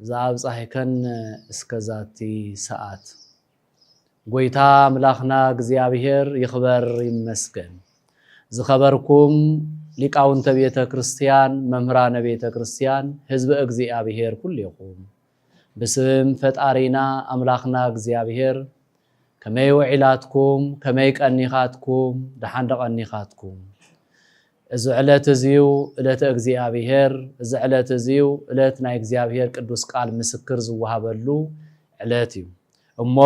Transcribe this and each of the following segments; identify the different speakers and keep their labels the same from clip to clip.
Speaker 1: ዘኣብጻሕከን እስከ ዛቲ ሰኣት። ጎይታ ኣምላኽና እግዚኣብሔር ይኽበር ይመስገን ዝኸበርኩም ሊቃውንተ ቤተ ክርስቲያን መምህራነ ቤተ ክርስቲያን ህዝበ እግዚኣብሔር ኩሌኹም ብስም ፈጣሪና ኣምላኽና እግዚኣብሔር ከመይ ውዒላትኩም ከመይ ቀኒኻትኩም ደሓን ደቐኒኻትኩም እዚ ዕለት እዚዩ እለተ እግዚኣብሔር፣ እዚ ዕለት እዚዩ እለት ናይ እግዚኣብሔር ቅዱስ ቃል ምስክር ዝወሃበሉ ዕለት እዩ። እሞ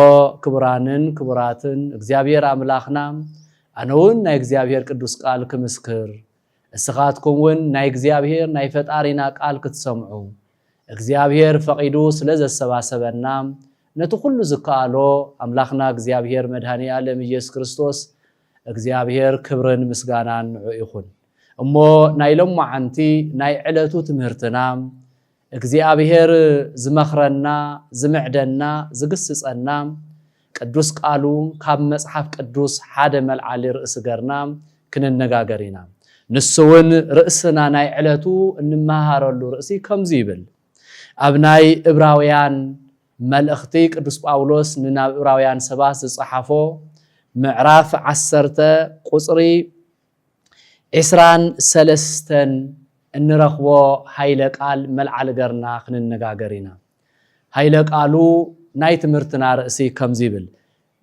Speaker 1: ክቡራንን ክቡራትን እግዚኣብሔር ኣምላኽና ኣነውን ናይ እግዚኣብሔር ቅዱስ ቃል ክምስክር እስኻትኩም ውን ናይ እግዚኣብሔር ናይ ፈጣሪና ቃል ክትሰምዑ እግዚኣብሔር ፈቒዱ ስለ ዘሰባሰበና ነቲ ኩሉ ዝከኣሎ ኣምላኽና እግዚኣብሔር መድኃኔ ዓለም ኢየሱስ ክርስቶስ እግዚኣብሔር ክብርን ምስጋናን ንዑ ይኹን። እሞ ናይ ሎማዓንቲ ናይ ዕለቱ ትምህርትና እግዚኣብሔር ዝመኽረና ዝምዕደና ዝግስጸና ቅዱስ ቃሉ ካብ መጽሓፍ ቅዱስ ሓደ መልዓሊ ርእሲ ገርና ክንነጋገር ኢና። ንሱ እውን ርእስና ናይ ዕለቱ እንመሃረሉ ርእሲ ከምዚ ይብል ኣብ ናይ እብራውያን መልእኽቲ ቅዱስ ጳውሎስ ንናብ እብራውያን ሰባት ዝጸሓፎ ምዕራፍ ዓሰርተ ቁጽሪ ዕስራን ሰለስተን እንረኽቦ ሃይለ ቃል መልዓሊ ገርና ክንነጋገር ኢና። ሃይለ ቃሉ ናይ ትምህርትና ርእሲ ከምዚ ይብል፣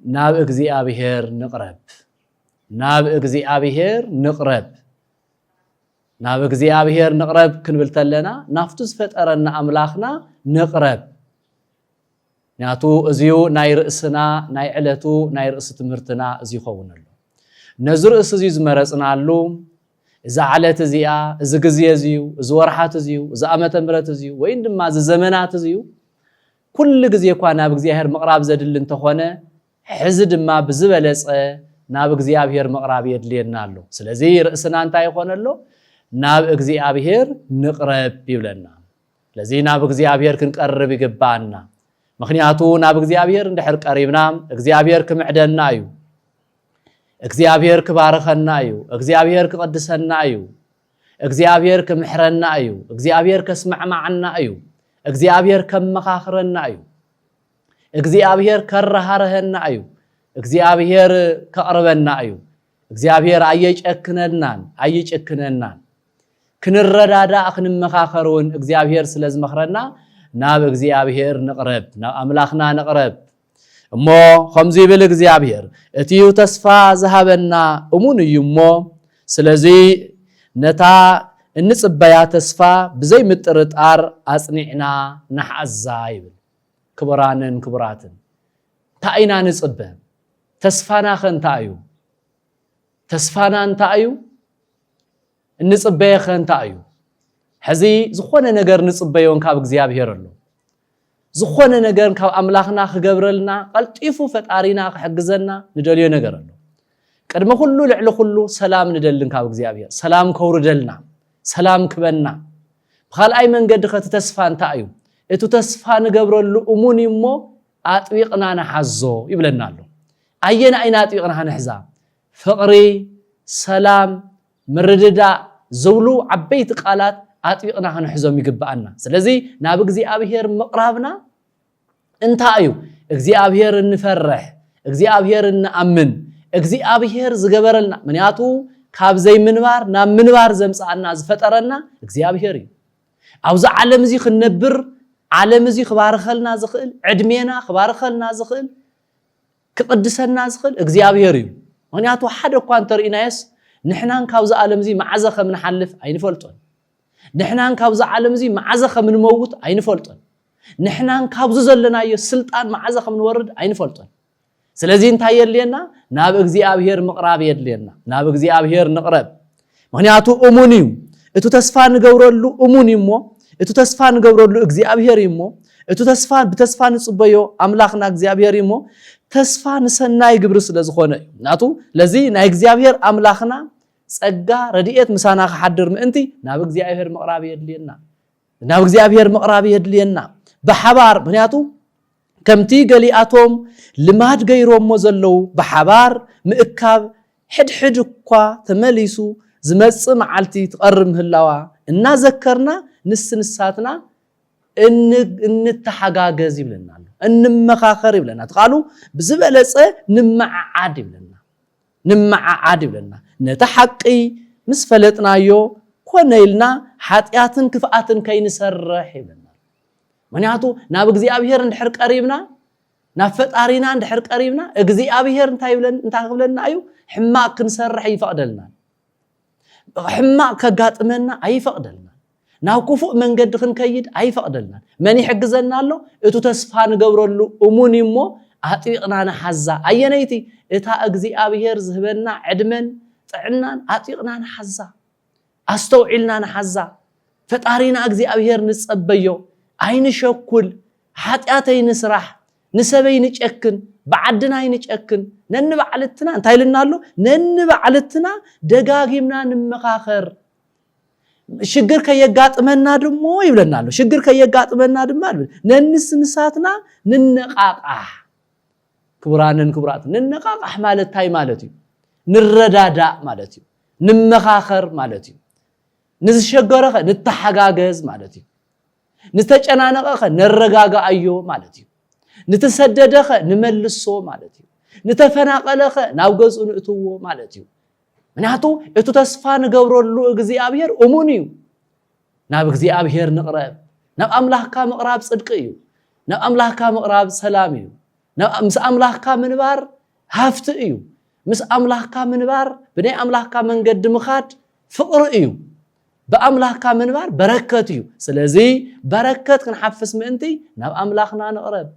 Speaker 1: ናብ እግዚኣብሔር ንቕረብ። ናብ እግዚኣብሔር ንቕረብ። ናብ እግዚኣብሔር ንቕረብ ክንብል ተለና ናፍቱ ዝፈጠረና ኣምላኽና ንቕረብ ምክንያቱ እዚዩ ናይ ርእስና ናይ ዕለቱ ናይ ርእሲ ትምህርትና እዚ ይኸውን ኣሎ ነዚ ርእሲ እዚዩ ዝመረፅናሉ እዚ ዓለት እዚኣ እዚ ግዜ እዚዩ እዚ ወርሓት እዚዩ እዚ ኣመተ ምረት እዚዩ ወይ ድማ እዚ ዘመናት እዚዩ ኩሉ ግዜ እኳ ናብ እግዚኣብሔር ምቕራብ ዘድሊ እንተኾነ ሕዚ ድማ ብዝበለጸ ናብ እግዚኣብሔር ምቕራብ የድልየና ኣሎ። ስለዚ ርእስና እንታይ ይኾነ ኣሎ? ናብ እግዚኣብሔር ንቕረብ ይብለና። ስለዚ ናብ እግዚኣብሔር ክንቀርብ ይግባኣና። ምክንያቱ ናብ እግዚኣብሔር እንድሕር ቀሪብና እግዚኣብሔር ክምዕደና እዩ። እግዚኣብሔር ክባርኸና እዩ እግዚኣብሔር ክቕድሰና እዩ እግዚኣብሔር ክምሕረና እዩ እግዚኣብሔር ከስማዕማዕና እዩ እግዚኣብሔር ከመኻኽረና እዩ እግዚኣብሔር ከረሃረሀና እዩ እግዚኣብሔር ከቕርበና እዩ እግዚኣብሔር ኣየጨክነናን ኣይጭክነናን ክንረዳዳእ ክንመኻኸር እውን እግዚኣብሔር ስለ ዝመኽረና ናብ እግዚኣብሔር ንቕረብ ናብ ኣምላኽና ንቕረብ እሞ ከምዚ ይብል እግዚኣብሔር እቲ እዩ ተስፋ ዝሃበና እሙን እዩ እሞ ስለዚ ነታ እንፅበያ ተስፋ ብዘይምጥርጣር ኣፅኒዕና ንሓዛ ይብል ክቡራንን ክቡራትን እንታይ ኢና ንጽበ? ተስፋና ከ እንታይ እዩ? ተስፋና እንታይ እዩ? እንጽበየ ከ እንታይ እዩ? ሕዚ ዝኾነ ነገር ንጽበዮን ካብ እግዚኣብሔር ኣሎ ዝኾነ ነገር ካብ ኣምላኽና ክገብረልና ቀልጢፉ ፈጣሪና ክሕግዘና ንደልዮ ነገር ኣሎ ቅድሚ ኩሉ ልዕሊ ኩሉ ሰላም ንደልን ካብ እግዚኣብሔር ሰላም ከውርደልና ሰላም ክበና ብካልኣይ መንገዲ ከቲ ተስፋ እንታይ እዩ እቱ ተስፋ ንገብረሉ እሙን እዩ እሞ ኣጥቢቕና ንሓዞ ይብለና ኣሎ ኣየና ኢና ኣጥቢቕና ክንሕዛ ፍቕሪ ሰላም ምርድዳእ ዝብሉ ዓበይቲ ቃላት ኣጥቢቕና ክንሕዞም ይግብኣና ስለዚ ናብ እግዚኣብሄር ምቕራብና እንታይ እዩ? እግዚኣብሔር እንፈርሕ፣ እግዚኣብሔር እንኣምን፣ እግዚኣብሔር ዝገበረልና፣ ምክንያቱ ካብ ዘይምንባር ናብ ምንባር ዘምጽኣና ዝፈጠረና እግዚኣብሔር እዩ። ኣብዚ ዓለም እዚ ክንነብር ዓለም እዚ ክባርኸልና ዝኽእል ዕድሜና ክባርኸልና ዝኽእል ክቕድሰና ዝኽእል እግዚኣብሔር እዩ ምክንያቱ ሓደ እኳ እንተርእናየስ ንሕናን ካብዚ ዓለም እዚ መዓዘ ከም ንሓልፍ ኣይንፈልጦን ንሕናን ካብዚ ዓለም እዚ መዓዘ ከም እንመውት ኣይንፈልጦን። ንሕናን ካብዚ ዘለናዮ ስልጣን መዓዘ ከም እንወርድ ኣይንፈልጦን። ስለዚ እንታይ የድልየና? ናብ እግዚኣብሄር ምቕራብ የድልየና። ናብ እግዚኣብሄር ንቕረብ። ምክንያቱ እሙን እዩ። እቲ ተስፋ ንገብረሉ እሙን እዩ እሞ እቲ ተስፋ ንገብረሉ እግዚኣብሄር እዩ እሞ እቲ ተስፋ ብተስፋ ንጽበዮ ኣምላኽና እግዚኣብሄር እዩ እሞ ተስፋ ንሰናይ ግብሪ ስለ ዝኾነ እዩ ናቱ ለዚ ናይ እግዚኣብሄር ኣምላኽና ጸጋ ረድኤት ምሳና ክሓድር ምእንቲ ናብ እግዚኣብሔር ምቕራብ የድልየና ናብ እግዚኣብሔር ምቕራብ የድልየና ብሓባር ምክንያቱ ከምቲ ገሊኣቶም ልማድ ገይሮሞ ዘለዉ ብሓባር ምእካብ ሕድሕድ እኳ ተመሊሱ ዝመጽእ መዓልቲ ትቐርብ ምህላዋ እናዘከርና ንስ ንሳትና እንተሓጋገዝ ይብለና ኣሎ እንመኻኸር ይብለና እቲ ቃሉ ብዝበለፀ ንመዓዓድ ይብለና ንመዓዓድ ይብለና። ነቲ ሓቂ ምስ ፈለጥናዮ ኮነ ኢልና ሓጢኣትን ክፍኣትን ከይንሰርሕ ይብለና ኣሎ። ምኽንያቱ ናብ እግዚኣብሔር እንድሕር ቀሪብና ናብ ፈጣሪና እንድሕር ቀሪብና እግዚኣብሔር እንታይ ክብለና እዩ? ሕማቅ ክንሰርሕ ኣይፈቅደልናን። ሕማቅ ከጋጥመና ኣይፈቅደልናን። ናብ ክፉእ መንገዲ ክንከይድ ኣይፈቕደልናን። መን ይሕግዘና ኣሎ? እቱ ተስፋ ንገብረሉ እሙን እዩ እሞ ኣጥቢቕና ንሓዛ። ኣየነይቲ? እታ እግዚኣብሄር ዝህበና ዕድመን ጥዕናን ኣጥቢቕና ንሓዛ። ኣስተውዒልና ንሓዛ። ፈጣሪና እግዚኣብሄር ንጸበዮ። ኣይንሸኩል። ሓጢኣት ኣይንስራሕ። ንሰብ ኣይንጨክን። ብዓድና ኣይንጨክን። ነንባዕልትና እንታይ ኢሉና ኣሎ? ነንባዕልትና ደጋጊምና ንመኻኸር። ሽግር ከየጋጥመና ድሞ ይብለና ኣሎ ሽግር ከየጋጥመና ድማ ነንስ ንሳትና ንነቃቃሕ ክቡራንን ክቡራት ንነቃቃሕ ማለት እንታይ ማለት እዩ ንረዳዳእ ማለት እዩ ንመኻኸር ማለት እዩ ንዝሸገረኸ ንተሓጋገዝ ማለት እዩ ንተጨናነቐኸ ነረጋግኣዮ ማለት እዩ ንተሰደደኸ ንመልሶ ማለት እዩ ንተፈናቐለኸ ናብ ገዝኡ ንእትዎ ማለት እዩ ምክንያቱ እቱ ተስፋ ንገብረሉ እግዚኣብሔር እሙን እዩ ናብ እግዚኣብሔር ንቕረብ ናብ ኣምላኽካ ምቕራብ ጽድቂ እዩ ናብ ኣምላኽካ ምቕራብ ሰላም እዩ ምስ ኣምላኽካ ምንባር ሃፍቲ እዩ ምስ ኣምላኽካ ምንባር ብናይ ኣምላኽካ መንገዲ ምኻድ ፍቕሪ እዩ ብኣምላኽካ ምንባር በረከት እዩ ስለዚ በረከት ክንሓፍስ ምእንቲ ናብ ኣምላኽና ንቕረብ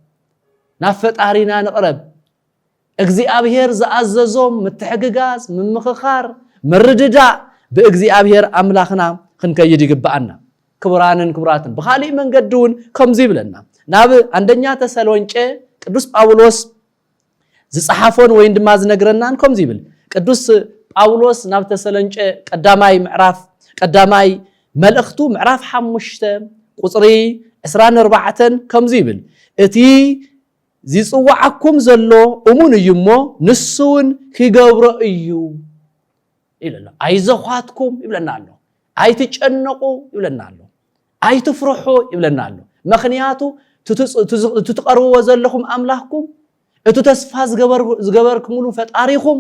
Speaker 1: ናብ ፈጣሪና ንቕረብ እግዚኣብሔር ዝኣዘዞም ምትሕግጋዝ፣ ምምኽኻር፣ ምርድዳእ ብእግዚኣብሔር ኣምላኽና ክንከይድ ይግብኣና። ክቡራንን ክቡራትን ብኻሊእ መንገዲ እውን ከምዙይ ይብለና ናብ ኣንደኛ ተሰሎንቄ ቅዱስ ጳውሎስ ዝፀሓፎን ወይን ድማ ዝነግረናን ከምዙይ ይብል ቅዱስ ጳውሎስ ናብ ተሰለንጨ ቀዳማይ ምዕራፍ ቀዳማይ መልእኽቱ ምዕራፍ ሓሙሽተ ቁፅሪ ዕስራን ኣርባዕተን ከምዙ ይብል እቲ ዚጽውዓኩም ዘሎ እሙን እዩ እሞ፣ ንሱውን ኺገብሮ እዩ ይብል ኣሎ። ኣይዞዃትኩም ይብለና ኣሎ። ኣይትጨነቑ ይብለና ኣሎ። ኣይትፍርሑ ይብለና ኣሎ። ምኽንያቱ እቲ ትቐርብዎ ዘለኹም ኣምላኽኩም፣ እቲ ተስፋ ዝገበርኩምሉ ፈጣሪኹም፣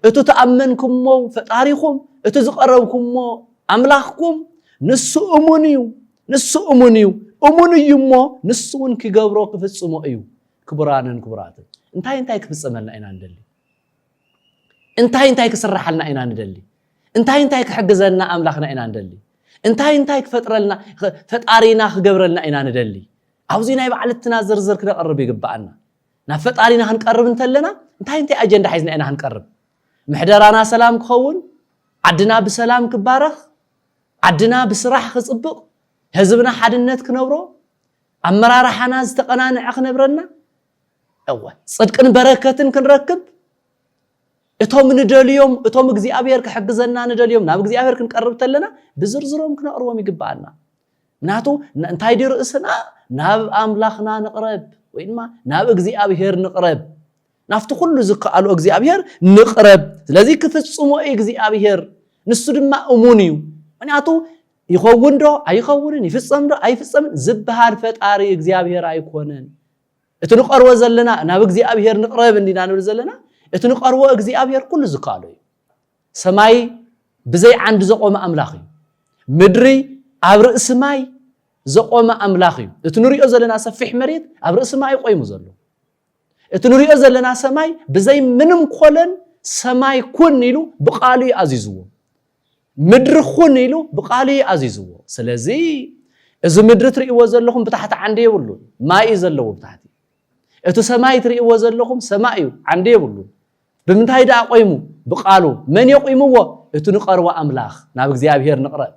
Speaker 1: እቲ ተኣመንኩሞ ፈጣሪኹም፣ እቲ ዝቐረብኩሞ ኣምላኽኩም፣ ንሱ እሙን እዩ። ንሱ እሙን እዩ፣ እሙን እዩ እሞ ንሱ እውን ኪገብሮ ኪፍጽሞ እዩ። ክቡራንን ክቡራትን፣ እንታይ እንታይ ክፍጸመልና ኢና ንደሊ? እንታይ እንታይ ክስራሓልና ኢና ንደሊ? እንታይ እንታይ ክሕግዘና ኣምላኽና ኢና ንደሊ እንታይ እንታይ ክፈጥረልና ፈጣሪና ክገብረልና ኢና ንደሊ ኣብዚ ናይ ባዕልትና ዝርዝር ክነቕርብ ይግብኣና ናብ ፈጣሪና ክንቀርብ እንተለና እንታይ እንታይ ኣጀንዳ ሒዝና ኢና ክንቀርብ ምሕደራና ሰላም ክኸውን ዓድና ብሰላም ክባረኽ ዓድና ብስራሕ ክፅብቕ፣ ህዝብና ሓድነት ክነብሮ፣ ኣመራርሓና ዝተቐናንዐ ክነብረና፣ እወ ፅድቅን በረከትን ክንረክብ እቶም ንደልዮም እቶም እግዚኣብሔር ክሕግዘና ንደልዮም ናብ እግዚኣብሔር ክንቀርብ ተለና ብዝርዝሮም ክነቕርቦም ይግብኣና ምናቱ እንታይ ድዩ ርእስና ናብ ኣምላኽና ንቕረብ ወይ ድማ ናብ እግዚኣብሔር ንቕረብ ናብቲ ኩሉ ዝከኣሎ እግዚኣብሄር ንቕረብ ስለዚ ክፍጽሞ እዩ እግዚኣብሄር ንሱ ድማ እሙን እዩ ምክንያቱ ይኸውን ዶ ኣይኸውንን ይፍጸም ዶ ኣይፍጸምን ዝበሃል ፈጣሪ እግዚኣብሄር ኣይኮነን እቲ ንቐርቦ ዘለና ናብ እግዚኣብሄር ንቕረብ እንዲና ንብል ዘለና እቲ ንቐርቦ እግዚኣብሄር ኩሉ ዝከኣሎ እዩ ሰማይ ብዘይ ዓንዲ ዘቆመ ኣምላኽ እዩ ምድሪ ኣብ ርእሲ ማይ ዘቆመ ኣምላኽ እዩ እቲ ንሪኦ ዘለና ሰፊሕ መሬት ኣብ ርእሲ ማይ ቆይሙ ዘሎ እቲ ንሪኦ ዘለና ሰማይ ብዘይ ምንም ኮለን ሰማይ ኩን ኢሉ ብቃሉ እዩ ኣዚዝዎ። ምድሪ ኩን ኢሉ ብቃሉ እዩ ኣዚዝዎ። ስለዚ እዚ ምድሪ ትርእይዎ ዘለኹም ብታሕቲ ዓንዲ የብሉን፣ ማይ እዩ ዘለዎ ብታሕቲ። እቲ ሰማይ ትርእይዎ ዘለኹም ሰማይ እዩ፣ ዓንዲ የብሉን። ብምንታይ ደኣ ቆይሙ? ብቃሉ። መን የቑምዎ? እቲ ንቐርቦ ኣምላኽ፣ ናብ እግዚኣብሄር ንቕረብ።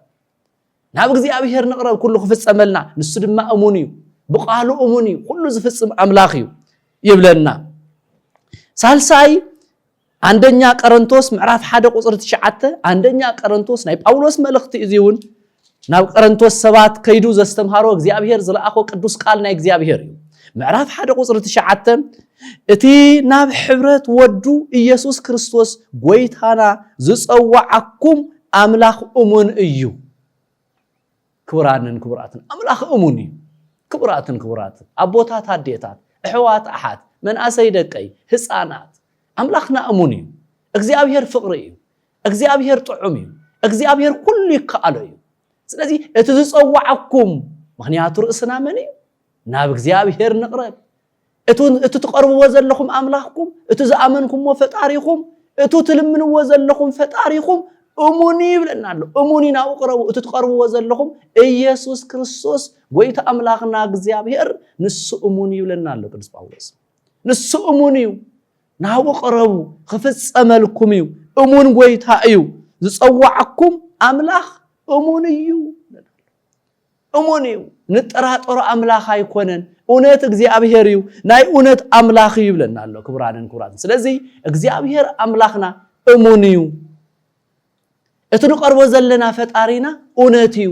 Speaker 1: ናብ እግዚኣብሔር ንቕረብ ኩሉ ክፍጸመልና ንሱ ድማ እሙን እዩ ብቃሉ እሙን እዩ ኩሉ ዝፍጽም ኣምላኽ እዩ ይብለና ሳልሳይ ኣንደኛ ቀረንቶስ ምዕራፍ ሓደ ቁፅሪ ትሽዓተ ኣንደኛ ቀረንቶስ ናይ ጳውሎስ መልእኽቲ እዚ እውን ናብ ቀረንቶስ ሰባት ከይዱ ዘስተምሃሮ እግዚኣብሄር ዝለኣኾ ቅዱስ ቃል ናይ እግዚኣብሄር እዩ ምዕራፍ ሓደ ቁፅሪ ትሽዓተ እቲ ናብ ሕብረት ወዱ ኢየሱስ ክርስቶስ ጎይታና ዝጸዋዓኩም ኣምላኽ እሙን እዩ። ክቡራንን ክቡራትን ኣምላኽ እሙን እዩ። ክቡራትን ክቡራትን ኣቦታት ኣዴታት እሕዋት ኣሓት መንኣሰይ ደቀይ ህፃናት ኣምላኽና እሙን እዩ። እግዚኣብሔር ፍቕሪ እዩ። እግዚኣብሔር ጥዑም እዩ። እግዚኣብሔር ኩሉ ይከኣሎ እዩ። ስለዚ እቲ ዝጸዋዓኩም ምክንያቱ ርእስና መን እዩ ናብ እግዚኣብሔር ንቕረብ እቱ እቱ ትቐርብዎ ዘለኹም ኣምላኽኩም፣ እቱ ዝኣመንኩምዎ ፈጣሪኹም፣ እቱ ትልምንዎ ዘለኹም ፈጣሪኹም እሙን እዩ ይብለና ኣሎ። እሙን እዩ ናብኡ ቅረቡ። እቱ ትቐርብዎ ዘለኹም ኢየሱስ ክርስቶስ ጎይታ ኣምላኽና እግዚኣብሔር ንሱ እሙን እዩ ይብለና ኣሎ ቅዱስ ጳውሎስ። ንሱ እሙን እዩ ናብኡ ቅረቡ ክፍጸመልኩም እዩ። እሙን ጎይታ እዩ ዝጸዋዕኩም ኣምላኽ እሙን እዩ። እሙን እዩ ንጠራጠሮ ኣምላኽ ኣይኮነን እውነት እግዚኣብሔር እዩ ናይ እውነት ኣምላኽ እዩ ይብለና ኣሎ ክቡራንን ክቡራትን ስለዚ እግዚኣብሔር ኣምላኽና እሙን እዩ እቲ ንቀርቦ ዘለና ፈጣሪና እውነት እዩ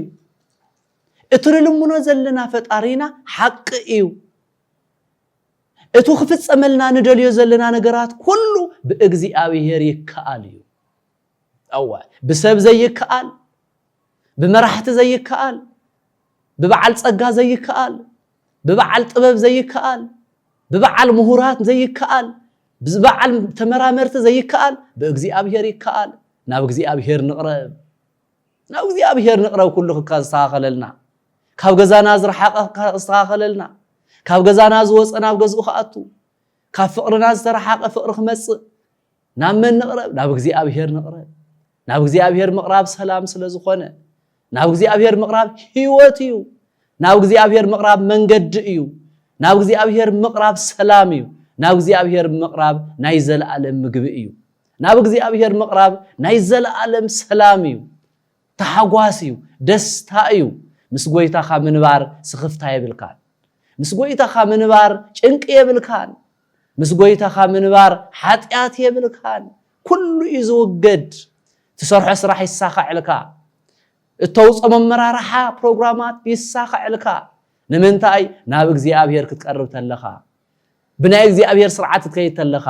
Speaker 1: እቲ ንልምኖ ዘለና ፈጣሪና ሓቂ እዩ እቲ ክፍፀመልና ንደልዮ ዘለና ነገራት ኩሉ ብእግዚኣብሔር ይከኣል እዩ እወ ብሰብ ዘይከኣል ብመራሕቲ ዘይከኣል፣ ብበዓል ጸጋ ዘይከኣል፣ ብበዓል ጥበብ ዘይከኣል፣ ብበዓል ምሁራት ዘይከኣል፣ ብበዓል ተመራመርቲ ዘይከኣል፣ ብእግዚኣብሔር ይከኣል። ናብ እግዚኣብሔር ንቕረብ። ናብ እግዚኣብሔር ንቕረብ ኩሉ ክካ ዝስተኻኸለልና። ካብ ገዛና ዝረሓቐ ክስተኻኸለልና። ካብ ገዛና ዝወፀ ናብ ገዝኡ ክኣቱ። ካብ ፍቕርና ዝተረሓቐ ፍቕሪ ክመጽእ ናብ መን ንቕረብ? ናብ እግዚኣብሔር ንቕረብ። ናብ እግዚኣብሔር ምቕራብ ሰላም ስለ ዝኾነ፣ ናብ እግዚኣብሔር ምቕራብ ሕይወት እዩ። ናብ እግዚኣብሔር ምቕራብ መንገዲ እዩ። ናብ እግዚኣብሔር ምቕራብ ሰላም እዩ። ናብ እግዚኣብሔር ምቕራብ ናይ ዘለኣለም ምግቢ እዩ። ናብ እግዚኣብሔር ምቕራብ ናይ ዘለኣለም ሰላም እዩ። ታሕጓስ እዩ ደስታ እዩ ምስ ጎይታኻ ምንባር ስኽፍታ የብልካን ምስ ጎይታኻ ምንባር ጭንቂ የብልካን ምስ ጎይታኻ ምንባር ሓጢኣት የብልካን ኩሉ እዩ ዝውገድ ትሰርሖ ስራሕ ይሳኸዐልካ እተውፅኦ መመራርሓ ፕሮግራማት ይሳኸዐልካ ንምንታይ ናብ እግዚኣብሔር ክትቀርብ ተለኻ ብናይ እግዚኣብሔር ስርዓት ክትከይድ ተለኻ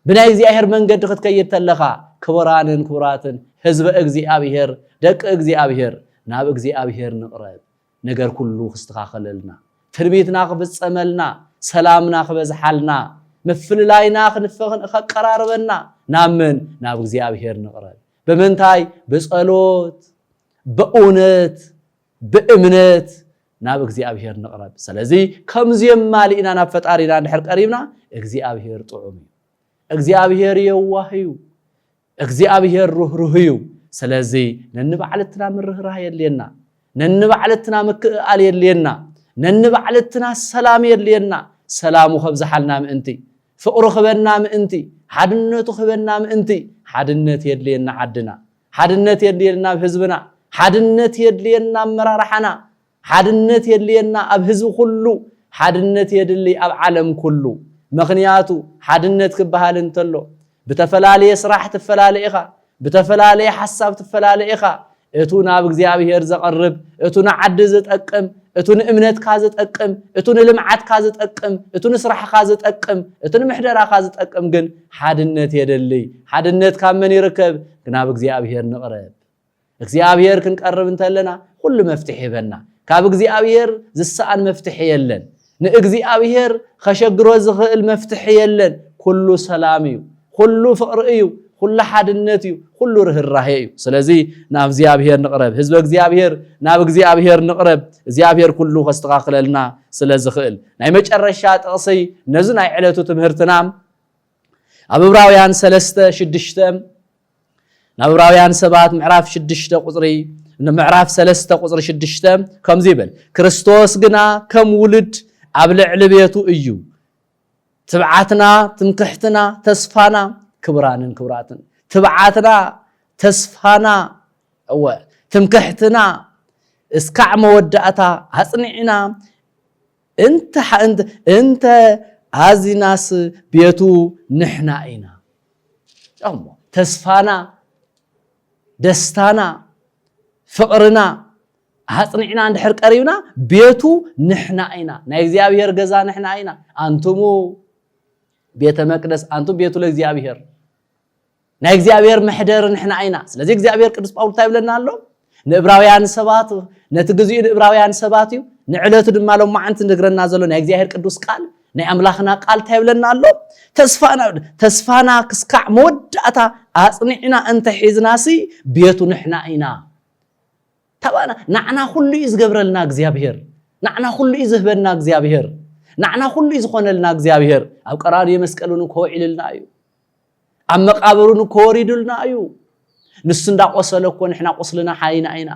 Speaker 1: ብናይ እግዚኣብሔር መንገዲ ክትከይድ ተለኻ ክቡራንን ክቡራትን ህዝበ እግዚኣብሔር ደቂ እግዚኣብሔር ናብ እግዚኣብሔር ንቕረብ ነገር ኩሉ ክስተኻኸለልና ትንቢትና ክፍፀመልና ሰላምና ክበዝሓልና ምፍልላይና ከቀራርበና ናብ መን ናብ እግዚኣብሔር ንቕረብ ብምንታይ ብፀሎት በእውነት ብእምነት ናብ እግዚኣብሄር ንቕረብ። ስለዚ ከምዚኦም ማሊእና ናብ ፈጣሪና እንድሕር ቀሪብና እግዚኣብሄር ጥዑም እዩ። እግዚኣብሄር የዋህ እዩ። እግዚኣብሄር ርህሩህ እዩ። ስለዚ ነንባዕልትና ምርህራህ የድልየና። ነንባዕልትና ምክእኣል የድልየና። ነንባዕልትና ሰላም የድልየና። ሰላሙ ከብዝሓልና ምእንቲ፣ ፍቕሩ ክበና ምእንቲ፣ ሓድነቱ ክበና ምእንቲ ሓድነት የድልየና ዓድና ሓድነት የድልየና ኣብ ህዝብና፣ ሓድነት የድልየና ኣመራርሓና፣ ሓድነት የድልየና ኣብ ህዝቢ ኩሉ፣ ሓድነት የድልይ ኣብ ዓለም ኩሉ። መኽንያቱ ሓድነት ክበሃል እንተሎ ብተፈላለየ ስራሕ ትፈላለ ኢኻ፣ ብተፈላለየ ሓሳብ ትፈላለ ኢኻ፣ እቱ ናብ እግዚኣብሄር ዘቕርብ፣ እቱ ንዓዲ ዝጠቅም፣ እቱ ንእምነትካ ዝጠቅም፣ እቱ ንልምዓትካ ዝጠቅም፣ እቱ ንስራሕኻ ዝጠቅም፣ እቱ ንምሕደራኻ ዝጠቅም ግን ሓድነት የደልይ። ሓድነት ካብ መን ይርከብ? ናብ እግዚኣብሔር ንቕረብ። እግዚኣብሔር ክንቀርብ እንተለና ኩሉ መፍትሒ ይበና። ካብ እግዚኣብሔር ዝሰኣን መፍትሒ የለን። ንእግዚኣብሔር ከሸግሮ ዝኽእል መፍትሒ የለን። ኩሉ ሰላም እዩ፣ ኩሉ ፍቕሪ እዩ፣ ኩሉ ሓድነት እዩ፣ ኩሉ ርህራሄ እዩ። ስለዚ ናብ እግዚኣብሔር ንቕረብ። ህዝበ እግዚኣብሔር ናብ እግዚኣብሔር ንቕረብ። እግዚኣብሔር ኩሉ ከስተኻኽለልና ስለ ዝኽእል። ናይ መጨረሻ ጥቕሲ ነዚ ናይ ዕለቱ ትምህርትና ኣብ እብራውያን ሰለስተ ሽዱሽተ ናብ እብራውያን ሰባት ምዕራፍ ሽዱሽተ ቁፅሪ ንምዕራፍ ሰለስተ ቁፅሪ ሽዱሽተ ከምዚ ይብል ክርስቶስ ግና ከም ውሉድ ኣብ ልዕሊ ቤቱ እዩ ትብዓትና ትምክሕትና ተስፋና ክብራንን ክብራትን ትብዓትና ተስፋና እወ ትምክሕትና እስካዕ መወዳእታ ኣፅኒዕና እንተ እንተ ኣዚናስ ቤቱ ንሕና ኢና እሞ ተስፋና ደስታና ፍቕርና ኣጽኒዕና እንድሕር ቀሪብና ቤቱ ንሕና ኢና ናይ እግዚኣብሔር ገዛ ንሕና ኢና ኣንቱሙ ቤተ መቅደስ ኣንቱም ቤቱ ለእግዚኣብሔር ናይ እግዚኣብሔር መሕደር ንሕና ኢና ስለዚ እግዚኣብሔር ቅዱስ ጳውሎስ እንታይ ይብለና ኣሎ ንእብራውያን ሰባት ነቲ ግዜኡ ንእብራውያን ሰባት እዩ ንዕለቱ ድማ ሎማዓንቲ ንግረና ዘሎ ናይ እግዚኣብሔር ቅዱስ ቃል ናይ ኣምላኽና ቃል እንታይ ይብለና ኣሎ ተስፋና ተስፋና ክስካዕ መወዳእታ ኣጽኒዕና እንተ ሒዝናሲ ቤቱ ንሕና ኢና ተባና ናዕና ኩሉ እዩ ዝገብረልና እግዚኣብሔር ናዕና ኩሉ እዩ ዝህበና እግዚኣብሔር ናዕና ኩሉ እዩ ዝኾነልና እግዚኣብሔር ኣብ ቀራንዮ መስቀል እውን ከውዒልልና እዩ ኣብ መቃብሩን እኮ ወሪዱልና እዩ ንሱ እንዳቆሰለ እኮ ንሕና ቁስልና ሓይና ኢና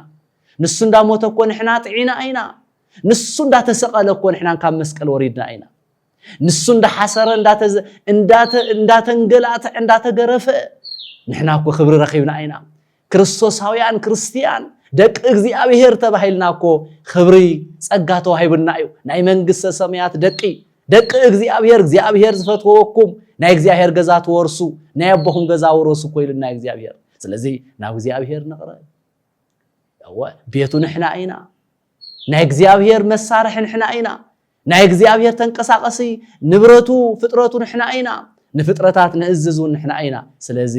Speaker 1: ንሱ እንዳሞተ እኮ ንሕና ጥዒና ኢና ንሱ እንዳተሰቀለ እኮ ንሕና ካብ መስቀል ወሪድና ኢና ንሱ እንዳሓሰረ እንዳተንገላትዐ እንዳተገረፈ ንሕና እኮ ክብሪ ረኺብና ኢና ክርስቶሳውያን ክርስትያን ደቂ እግዚኣብሔር ተባሂልና እኮ ኽብሪ ጸጋ ተዋሂቡና እዩ ናይ መንግስተ ሰማያት ደቂ ደቂ እግዚኣብሔር እግዚኣብሔር ዝፈትወኩም ናይ እግዚኣብሔር ገዛ ትወርሱ ናይ ኣቦኹም ገዛ ውረሱ እኮ ኢሉና እግዚኣብሔር ስለዚ ናብ እግዚኣብሔር ንቕረብ እወ ቤቱ ንሕና ኢና ናይ እግዚኣብሔር መሳርሒ ንሕና ኢና። ናይ እግዚኣብሔር ተንቀሳቐሲ ንብረቱ ፍጥረቱ ንሕና ኢና። ንፍጥረታት ንእዝዝ እውን ንሕና ኢና። ስለዚ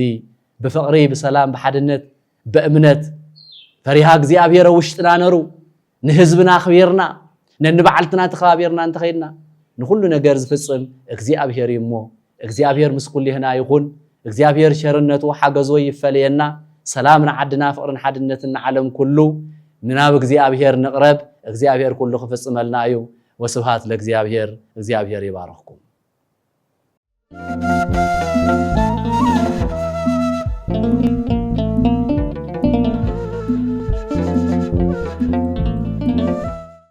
Speaker 1: ብፍቕሪ ብሰላም ብሓድነት በእምነት ፈሪሃ እግዚኣብሔር ኣብ ውሽጥና ነሩ ንህዝብና ኣኽቢርና ነንባዕልትና ተኸባቢርና እንተኸይድና ንኹሉ ነገር ዝፍፅም እግዚኣብሔር እዩ እሞ እግዚኣብሔር ምስ ኩሊህና ይኩን እግዚኣብሔር ሸርነቱ ሓገዞ ይፈለየና ሰላም ንዓድና ፍቅርን ሓድነትን ንዓለም ኩሉ ምናብ እግዚኣብሔር ንቅረብ እግዚኣብሔር ኩሉ ክፍፅመልና እዩ ወስብሃት ለእግዚኣብሔር እግዚኣብሔር ይባርክኩም